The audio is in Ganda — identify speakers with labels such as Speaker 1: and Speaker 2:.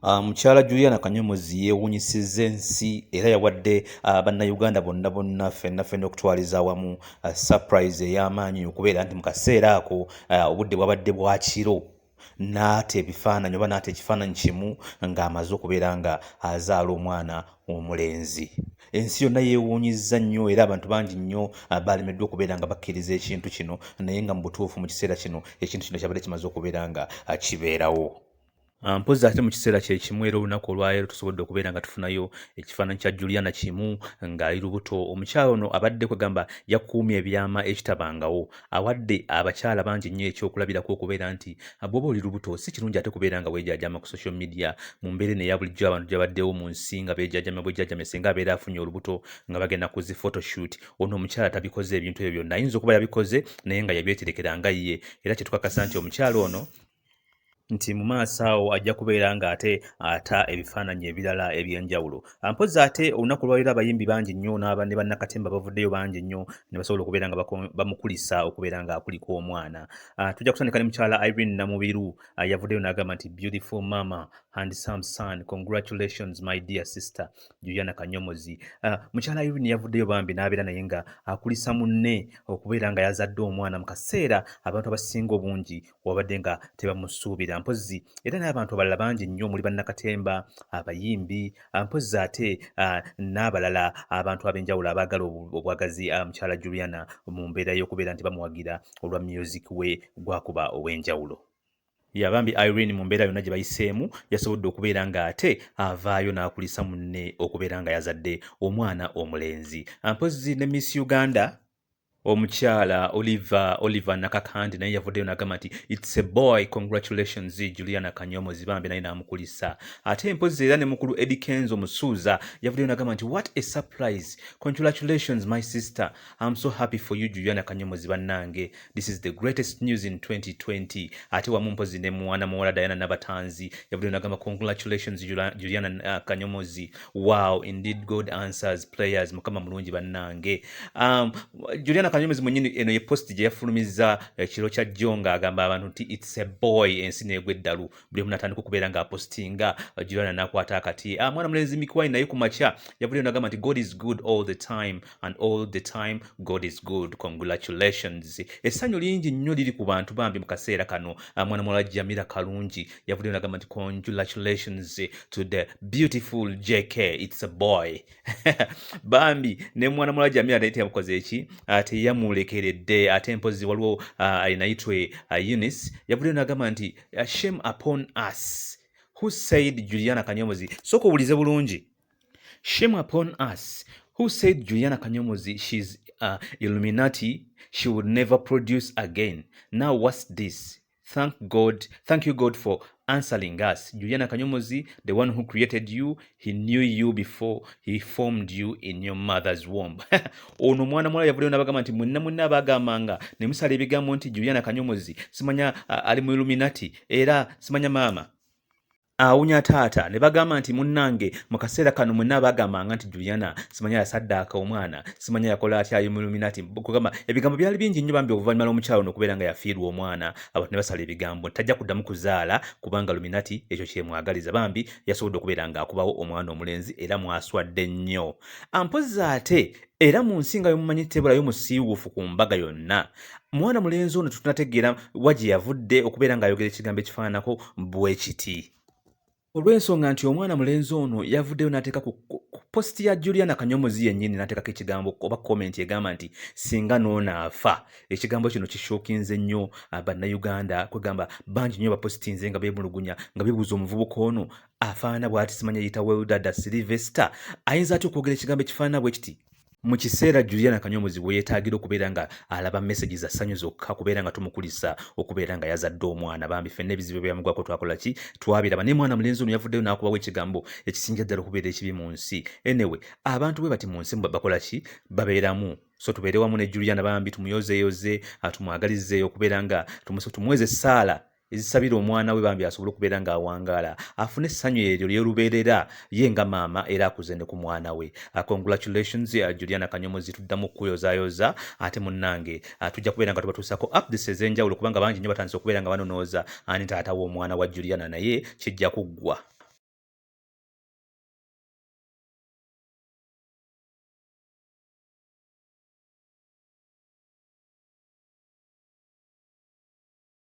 Speaker 1: Ah, mukyala juliana kanyomozi yewunyisiza ensi era yawadde ah, bannayuganda bonna bonna fenna fenna okutwaliza awamu ah, surprise ey'amaanyi okubeera nti mu kaseera ako obudde bwabadde bwakiro naata ebifaananyi oba naata ekifaananyi kimu ng'amaze okubeera nga azaala omwana omulenzi ensi yonna yeewuunyizza nnyo era abantu bangi nnyo ah, baalemeddwa okubeera nga bakkiriza ekintu kino naye nga mu butuufu mu kiseera kino ekintu kino kyabadde kimaze okubeera nga ah, kibeerawo Ah, mpozzi ate mu kiseera kye kimu era olunaku olwaleero tusobodde okubeera nga tufunayo ekifaananyi kya juliana kimu ng'ali lubuto omukyala ono abadde kwegamba yakuumye ebyama ekitabangawo awadde abakyala bangi nnyo ekyokulabirako okubeera nti ah, bwoba oli lubuto si kirungi ate kubeera nga weejajama ku social media mu mbeera eno eya bulijjo abantu gyabaddewo mu nsi nga beejajama bwejajame singa abeera afunye olubuto nga bagenda ku zi photoshoot ono omukyala tabikoze ebintu ebyo byonna ayinza okuba yabikoze naye nga yabyeterekera nga ye era kyetukakasa nti omukyala ono nti mu maaso awo ajja kubeera ng'ate ata ebifaananyi ebirala eby'enjawulo mpozi ate olunaku lwaliro abayimbi bangi nnyo n'aba ne bannakatemba bavuddeyo bangi nnyo ne basobola okubeera nga bamukulisa okubeera ng'akulika omwana ah, tujja kutandika ne mukyala irene namubiru ah, yavuddeyo n'agamba nti beautiful mama and some son congratulations my dear sister juliana kanyomozi ah, mukyala irene yavuddeyo bambi n'abeera naye nga akulisa munne okubeera nga yazadde omwana mu kaseera abantu abasinga obungi wabadde nga tebamusuubira mpozzi era n'abantu abalala bangi nnyo omuli bannakatemba abayimbi mpozzi ate n'abalala abantu ab'enjawulo abaagala obwagazi mukyala juliana mu mbeera y'okubeera nti bamuwagira olwa myuziki we gwakuba ow'enjawulo yabambi irene mu mbeera yonna gye bayiseemu yasobodde okubeera ng'ate avaayo n'akulisa munne okubeera nga yazadde omwana omulenzi mpozzi ne miss uganda omukyala oliver oliver nakakandi naye yavuddeyo nagamba nti its a boy congratulations juliana kanyomo zibambe naye namukulisa ate empozi era ne mukulu edi kenzo musuuza yavuddeyo nagamba nti what a surprise congratulations my sister am so happy for you juliana kanyomo zibannange this is the greatest news in 2020 ate wamu mpozi ne mwana muwala diana nabatanzi yavuddeyo nagamba congratulations juliana uh, kanyomozi wow indeed god answers players mukama mulungi bannange um, juliana kanyomezi munyini eno ye post gye yafulumiza ekiro eh, kya jjo nga agamba abantu nti its a boy ensi neegwa eddalu buli omu natandika okubeera nga apostinga eh, juliana nakwata akati ah, mwana mulenzi mikiwai naye ku makya yavuleo nagamba nti god is good all the time and all the time god is good congratulations essanyu lingi nnyo liri ku bantu bambi mu kaseera kano ah, mwana muwala jamira kalungi yavuddeyo nagamba nti congratulations to the beautiful jk its a boy bambi ne mwana muwala jamira naye teyamukoze eki ah, teyamulekeredde ate mpozi waliwo ah, alinayitwe eunice yavuddeyo nagamba nti shame upon us who said juliana kanyomozi soka obulize bulungi Shame upon us. Who said Juliana Kanyomozi she's uh, Illuminati? She would never produce again. Now what's this? Thank God. Thank you God for answering us. Juliana Kanyomozi, the one who created you, he knew you before he formed you in your mother's womb. ono mwana mwala yavuleyo nabagamba nti mwenna mwenna abagambanga ne musala ebigambo nti Juliana Kanyomozi simanya uh, ali mu Illuminati era simanya maama awunya taata ne bagamba nti munnange mu kaseera kano mwenna abagambanga nti juliana simanya yasaddaaka omwana simanya yakola atya yomuluminati kugamba ebigambo byali bingi nnyo bambi oluvannyuma lw'omukyalo nokubeera nga yafiirwa omwana abantu ne basala ebigambo nti tajja kuddamu kuzaala kubanga luminati ekyo kyemwagaliza bambi yasobodde okubeera ng'akubawo omwana omulenzi era mwaswadde nnyo ampozi ate era mu nsi nga yomumanyi tebulayo musiiwuufu ku mbaga yonna mwana mulenzi ono tetunategeera wa gye yavudde okubeera ng'ayogera ekigambo ekifaananako bwe kiti olw'ensonga nti omwana mulenzi ono yavuddeyo n'ateeka ku positi ya juliana kanyomozi yennyini n'ateekako ekigambo oba komenti egamba nti singa noona afa ekigambo kino kishokinze nnyo ah, bannayuganda kwegamba bangi nnyo bapositinze nga beemulugunya nga bebuuza omuvubuka ono afaanana bw'ati simanya yita weldada silivesita ayinza atya okwogera ekigambo ekifaanana bwe kiti mu kiseera juliana kanyomuzi we yeetaagira okubeera nga alaba mesagi za ssanyu zokka kubeera nga tumukulisa okubeera nga yazadde omwana bambi fenna ebizibu ebyamugwako twakola ki twabiraba naye mwana mulenzi ono yavuddeyo n'akubawo ekigambo ekisinja ddala okubeera ekibi mu nsi enewe abantu bwe bati mu nsi bakola ki babeeramu so tubeere wamu ne juliana bambi tumuyozeyoze atumwagalizeeyo okubeera nga tumweze essaala ezisabira omwana we bambi asobole okubeera ng'awangaala afune essanyu eryo lyolubeerera ye nga maama era akuze ne ku mwana we uh, congratulations uh, juliana kanyomozi tuddamu okukuyozayoza ate munnange uh, tujja kubeera nga tubatuusako updates ez'enjawulo kubanga bangi nnyo batandise okubeera nga banonooza ani taata w'omwana wa juliana naye kijja kuggwa